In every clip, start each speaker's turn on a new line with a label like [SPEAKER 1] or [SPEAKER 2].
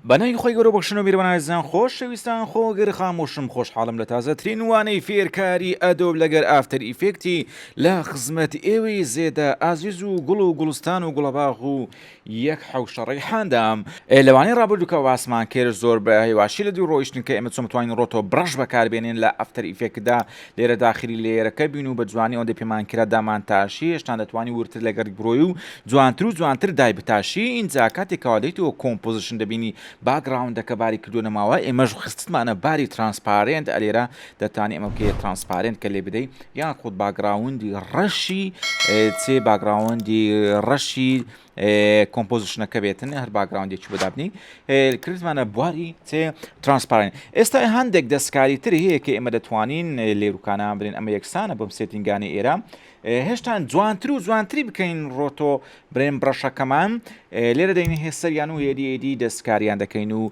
[SPEAKER 1] بە ناوی خوای گەورە بەخشن و میربان ئازیزان خۆ شەویستان خۆ گر خامۆشم خۆشحاڵم لە تازە ترین وانەی فێر کاری ئەدۆب لەگەر ئافتەر ئیفێکتی لە خزمەت ئێوەی زێدە ئازیز و گوڵ و گوڵستان و گوڵەباغ و یەک حەوشە ڕەیحاندام ئێ لە وانەی ڕابردوو کە باسمان کرد زۆر بە هێواشی لە دوو ڕۆیشتن کە ئێمە چۆن بتوانین ڕۆتۆ برەش بەکار بێنین لە ئەفتەر ئیفێکتدا لێرە داخلی لێیەرەکە بین و بە جوانی ئەوەندەی پێمان کرا دامانتاشی، هێشتان دەتوانی وردتر لەگەڕی برۆی و جوانتر و جوانتر دایبتاشی، ئینجا کاتێ کەوا دێیتەوە کۆمپۆزیشن دەبینی باگڕاوندەکە باری کردووەنە ماوە، ئێمەش خستتمانە باری ترانسپارێنت، ئەلێرە دەتانی ئەمە بکەیە ترانسپارێنت کە لێبدەی، یاخود باگڕاوندی ڕەشی چێ باگڕاوندی ڕەشی کۆمپۆزیشنەکە بێتن هەر باگراوندێکی بۆ دابنی کردمانە بواری تێ ترانسپارین ئێستا هەندێک دەستکاری تری هەیە کە ئێمە دەتوانین لێروکانان برێن ئەمە یەکسانە بۆم سێتینگانی ئێرە هێشتان جوانتر و جوانتری بکەین ڕۆتۆ برێن بڕەشەکەمان لێرە دەین هێسەریان و هێریێدی دەستکاریان دەکەین و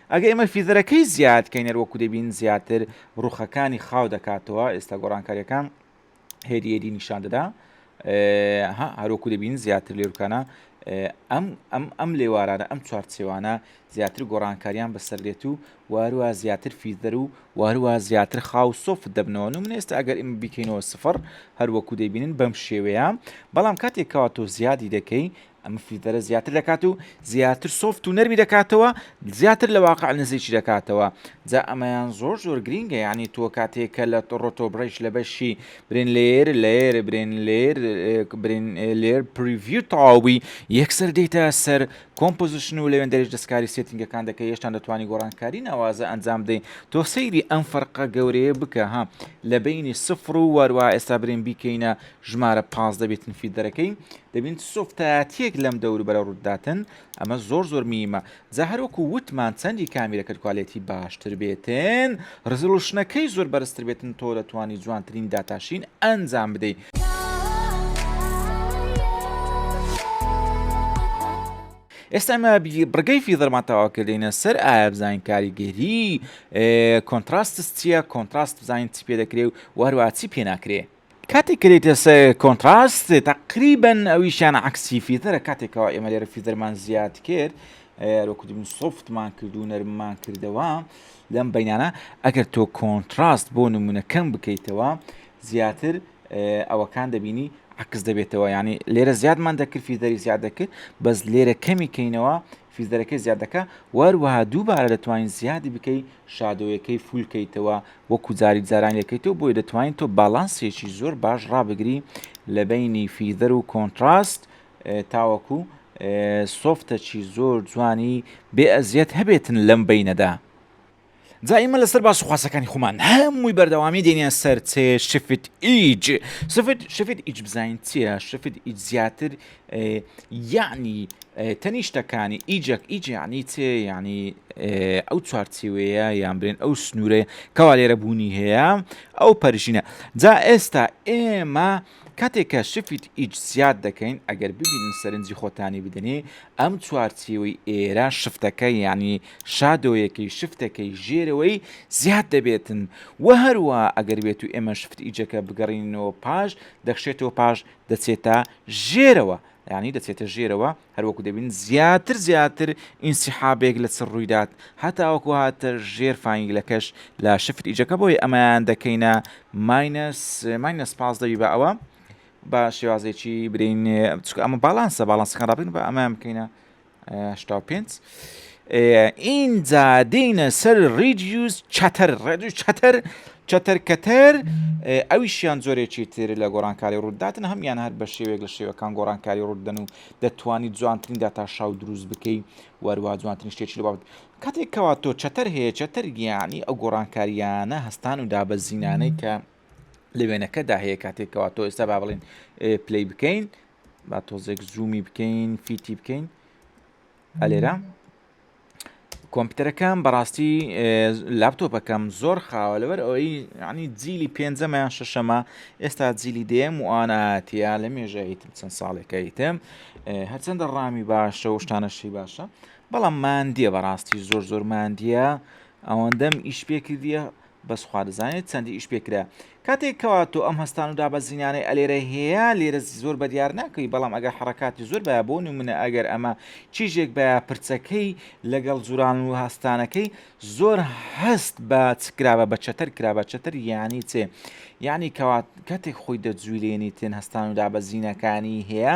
[SPEAKER 1] ئەگەر ئێمە فیدەرەکەی زیاد کەین هەروەکو دەبین زیاتر ڕوخەکانی خاو دەکاتەوە ئێستا گۆڕانکاریەکان هێدی هێدی نیشان دەدا هەروەکو دەبین زیاتر لێرکانە ئەم ئەم ئەم لێوارانە ئەم چوارچێوانە زیاتر گۆڕانکاریان بەسەر دێت و وارووا زیاتر فیدەر و وارووا زیاتر خاو سۆفت دەبنەوە و من ئێستا ئەگەر ئمە بیکەینەوە سفر هەروەکو دەبینن بەم شێوەیە بەڵام کاتێکەوە تۆ زیادی دەکەی ئەم فیلتەرە زیاتر دەکات و زیاتر سۆفت و نەرمی دەکاتەوە زیاتر لە واقع نزیکی دەکاتەوە جا ئەمەیان زۆر زۆر گرینگە یعنی تۆ کاتێک کە لە ڕۆتۆ بڕیش لە بەشی برێن لێر لێر برێن لێر برێن لێر پریڤیو تەواوبی یەکسەر دیتە سەر کۆمپۆزیشن و لەوێن دەریش دەستکاری سێتنگەکان دەکە هێشتان دەتوانانی گۆڕانکاری ناوازە ئەنجام دەین تۆ سەیری ئەم فەرقە گەورەیە بکە ها لە بینی سفر و واروا ئێستا برێن بیکەینە ژمارە پازدە بێتن فیلدەرەکەی دەبین چ سۆفتایەتیەک لەم دەوروبەرە ڕووداتن ئەمە زۆر زۆر میمە جا هەروەکو وتمان چەندی کامیرەکەت کوالێتی باشتر بێتن ڕزلوشنەکەی زۆر بەرزتر بێتن تۆ دەتوانی جوانترین داتاشین ئەنجام بدەی. ئێستا ئەمە بڕگەی فیدرمان تەوا کردینە سەر ئایا بزانین کاریگەری کۆنتراستس چییە کۆنتراست بزانین چی پێ دەکرێ و وهروە چی پێ ناکرێ کاتێک کە دێتە سەر کۆنتراست تقریبا ئەویشیان عکسی فیتەرە کاتێکەوە ئێمە لێرە فیتەرمان زیاد کرد لۆکردن سوفتمان کرد و نەرممان کردەوە لەم بینانە ئەگەر تۆ کۆنتراست بۆ نمونە کەم بکەیتەوە زیاتر ئەوەکان دەبینی عکس دەبێتەوە ینی لێرە زیادمان دەکرد فیزەری زیاد دەکرد بەس لێرە کەمی کەینەوە فیزەرەکەی زیاد دەکا وەروەها دووبارە دەتوانین زیادی بکەی شادۆیەکەی فول کەیتەوە وەکو جاری جاران لەکەیتەوە بۆیە دەتوانین تۆ باڵانسێکی زۆر باش ڕابگری لە بینی فیزەر و کۆنتراست تاوەکو سۆفتەکی زۆر جوانی بێ ئەزیەت هەبێتن لەم بینەدا. جا ئیمە لەسەر باس و خواسەکانی خۆمان هەمووی بەردەوامی دێنە سەر چێ شفت ئیج سفت شفت ئیج بزین چیە شفت ئیج زیاتر یعنی تەنیشتەکانی ئیجەک ئیج یعنی چێ ینی ئەو چوارچیوەیە یان برێن ئەو سنوورەیە کەوا لێرە بوونی هەیە ئەو پەرژینە جا ئێستا ئێمە کاتێک کە شفت ئیج زیاد دەکەین ئەگەر ببینن سەرنجی خۆتانی بدەنی ئەم چوارچێوەی ئێرە شفتەکە یانی شادۆیەکەی شفتەکەی ژێرەوەی زیاد دەبێتن و هەروە ئەگەر بێت و ئێمە شفت ئیجەکە بگەڕینەوە پاش دەخشێتەوە پاش دەچێتە ژێرەوە ینی دەچێتە ژێرەوە هەروەکو دەبینن زیاتر زیاتر ئینسیحابێک لە چڕ ڕوویدات هەتاوەکو هاتە ژێر فانگلەکەش لە شفت ئیجەکە بۆی ئەمەیان دەکەینە ماینەس ماینەس پاس دەبی بە ئەوە بە شێوازێکی برین چکە ئەمە باڵانسە باڵانسەکان ڕابین بە ئەمەیان بکەینە 5 ئینجا دێینە سەر ڕیدیوز چەتەر ڕێدیو چەتەر چەتەر کەتەر ئەویشیان زۆرێکی تر لە گۆڕانکاری ڕووداتن هەمیان هەر بە شێوێک لە شێوەکان گۆڕانکاری ڕوودەن و دەتوانانی جوانترین داتا شاو دروست بکەی وەروە جوانترین شتێکی لە بابەت کاتێک کەوا تۆ چەتەر هەیە چەتەر گیانی ئەو گۆڕانکاریانە هەستان و دابەزینانەی کە لە وێنەکەدا هەیە کاتێکەوە تۆ ئێستا با بڵین پلی بکەین با تۆزێک زوومی بکەین فیتی بکەین ئەلێرە کۆمپیوتەرەکەم بەڕاستی لاپتۆپەکەم زۆر خاوە لەبەر ئەوەی عنی جیلی پێنجەمەیان شەشەمە ئێستا جیلی دێم و ئاەتە لە مێژەیتم چەند ساڵێکەیتم هەرچەندە ڕامی باشە و شتانەشی باشە بەڵام ماندیە بەڕاستی زۆر زۆر ماندیە ئەوەندەم ئیش پێکردە بەس خوا دەزانێت چەندی ئیش پێ کرا کاتێک کەوا تۆ ئەم هەستان و دابەزینانەی ئەلێرە هەیە لێرە زۆر بەدیار ناکەوی بەڵام ئەگەر حەڕەکاتی زۆر بایە بۆ نمونە ئەگەر ئەمە چیژێک بایە پرچەکەی لەگەڵ جوران و هەستانەکەی زۆر هەست بە چ کرابە بە چەتەر کرابە چەتەر یانی چێ یانی کەوات کاتێک خۆی دەجویلێنی تێن هەستان و دابەزینەکانی هەیە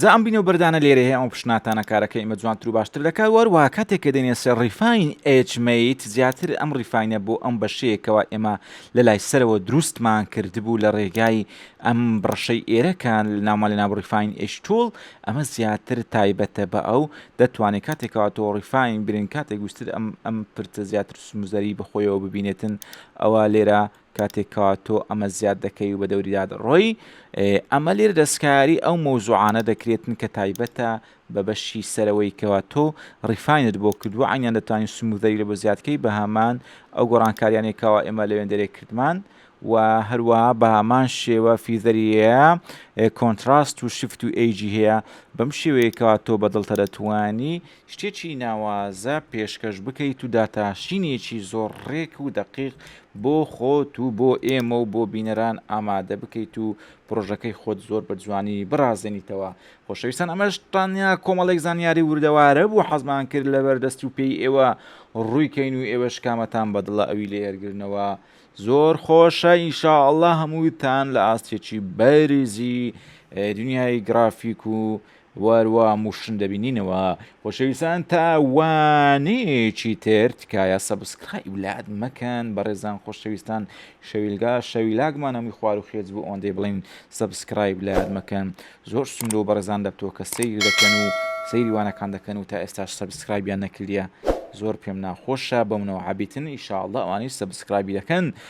[SPEAKER 1] جا ئەم بینە و بەردانە لێرە هەیە ئەم پشناتانە کارەکە ئمە جوانتر و باشتر دەکات وەروە کاتێک کە دێنێ سەر ڕیفاین ئچمیت زیاتر ئەم ڕیفاینە بۆ ئەم بەشەیەکەوە ئێمە لە لای سەرەوە دروستمان کردبوو لە ڕێگای ئەم بڕشەی ئێرەکان ناومان لە ناوڕیفاین ئشتول ئەمە زیاتر تایبەتە بە ئەو دەتوانێت کاتێکەوە تۆ ڕیفاین برین کاتێک گوستر ئەم ئەم پرتە زیاتر سمزەری بەخۆیەوە ببینێتن ئەوا لێرە کاتێک کەوا تۆ ئەمە زیاد دەکەی و بە دەوریدا دەڕۆی، ئەمە لێرە دەستکاری ئەو مەوزوعانە دەکرێتن کە تایبەتە بە بەشی سەرەوەی کەوا تۆ ڕیفاینت بۆ کردووە، عەینیان دەتوانین سمووزەری لێ بۆ زیاد کەی بە هەمان ئەو گۆڕانکاریانەی کەوا ئێمە لە وێندەرێک کردمان. و هەروەها بە هەمان شێوە فیزەری هەیە، کۆنتراست و شفت و ئێجی هەیە، بەم شێوەیە کەوا تۆ بە دڵتە دەتوانی شتێکی ناوازە پێشکەش بکەیت و داتاشینێکی زۆر ڕێک و دەقیق بۆ خۆت و بۆ ئێمە و بۆ بینەران ئامادە بکەیت و پرۆژەکەی خۆت زۆر بە جوانی بڕازێنیتەوە خۆشەویستان ئەمەش تانیا کۆمەڵێک زانیاری وردەوارە بوو حەزمان کرد لەبەر دەست و پێی ئێوە ڕووی کەین و ئێوە شکامەتان بەدڵە ئەوی لێرگرنەوە زۆر خۆشە ئینشا ئەڵا هەمووتان لە ئاستێکی بەرزی دنیای گرافیک و وار وا موشن دەبینینەوە خۆشەویسان تا وانەیەکی تر تکایە سەبسکرایب لات مەکەن بەڕێزان خۆشەویستان شەویلگا شەویلاگمانەمی خوار و خێز بوو ئەوەندەی بڵین سەبسکرایب لات مەکەن زۆر سندۆ بەڕێزان دەبتەوە کە سیر دەکەن و سەیری وانەکان دەکەن و تا ئێستاش سەبسکرایبیان نەکردە زۆر پێم ناخۆشە بەمنەوە عبیتن ئیشاءله ئەوانەی سەبسکرایبی دەکەن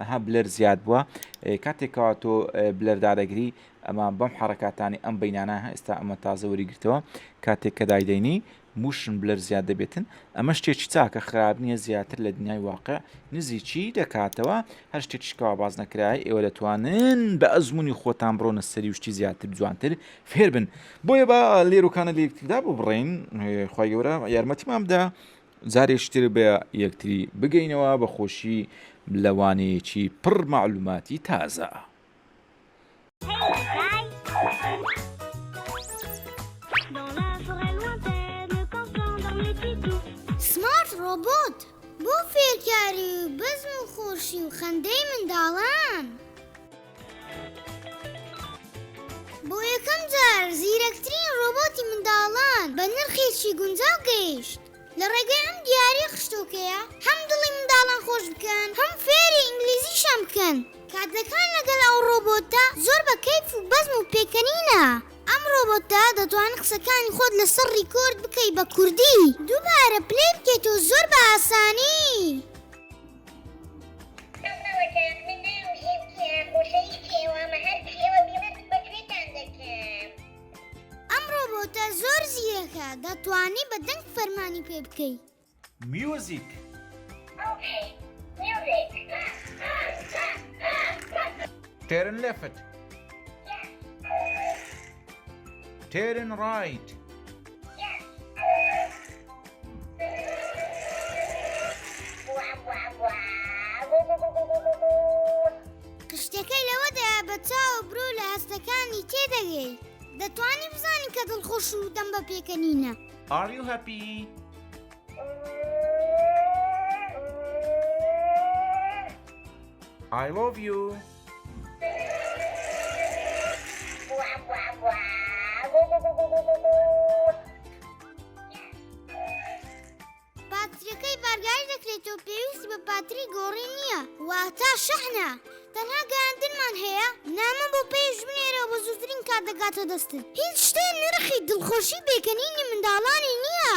[SPEAKER 1] ئەها بلەر زیاد بوە کاتێک کەوا تۆ بلەر دادەگری ئەمە بەم حەڕکاتانی ئەم بینانە ئێستا ئەمە تازە وەری گرتەوە کاتێک کە دایدەینی موشن بلەر زیاد دەبێتن ئەمە شتێکی چاکە خراپ نییە زیاتر لە دنیای واقع نزیکی دەکاتەوە هەر شتێکیشکەوا باز نەکرای ئێوە دەتوانن بە ئەزمموی خۆتان بڕۆنە سەری وشتی زیاتر جوانتر فێربن بۆیە بە لێرۆکانە لێکتردا ببڕین خی گەورە یارمەتیمان بدا جارێکی تر بە یەکتری بگەینەوە بە خۆشی لە وانەیەکی پڕ مەعلوماتی تازە.
[SPEAKER 2] سمارت ڕۆبۆت بۆ فێرکاری و بەزم و خۆشی و خەندەی منداڵان. بۆ یەکەم جار زیرەکترین ڕۆبۆتی منداڵان بە نرخێکی گونجاو گەیشت. لە ڕێگەی ئەم دیارییە خشتۆکەیە هەم دڵی منداڵان خۆش بکەن، هەم فێری ئینگلیزیشیان بکەن. کاتەکان لەگەڵ ئەو ڕۆبۆتە زۆر بە کەیف و بەزم و پێکەنینە. ئەم ڕۆبۆتە دەتوانن قسەکانی خۆت لەسەر ڕیکۆرد بکەی بە کوردی دووبارە پلەی بکەیتەوە زۆر بە ئاسانی. ئەم ڕۆبۆتە زۆر زیرەکە دەتوانی بە دەنگ فەرمانی پێ بکەی. میوزیک.
[SPEAKER 1] تێرن لێفت. تێرن ڕایت.
[SPEAKER 2] شتەکەی لەوەدا بە چاو برۆ لە هەستەکانی تێدەگەی دەتوانی بزانین کە دڵخۆش و دەم بە پێکەنینە ئاری و هەپی I
[SPEAKER 1] love you.
[SPEAKER 2] پاتریەکەی بارگای دەکرێت و پێویستی بە پاتری گۆڕی نییە واتا شەحنە تەنها گەیاندنمان هەیە نامە بۆ پێش بنێرە بە زووترین کات دەگاتە دەستن هیچ شتێ نرخی دڵخۆشی بێکەنینی منداڵانی نییە.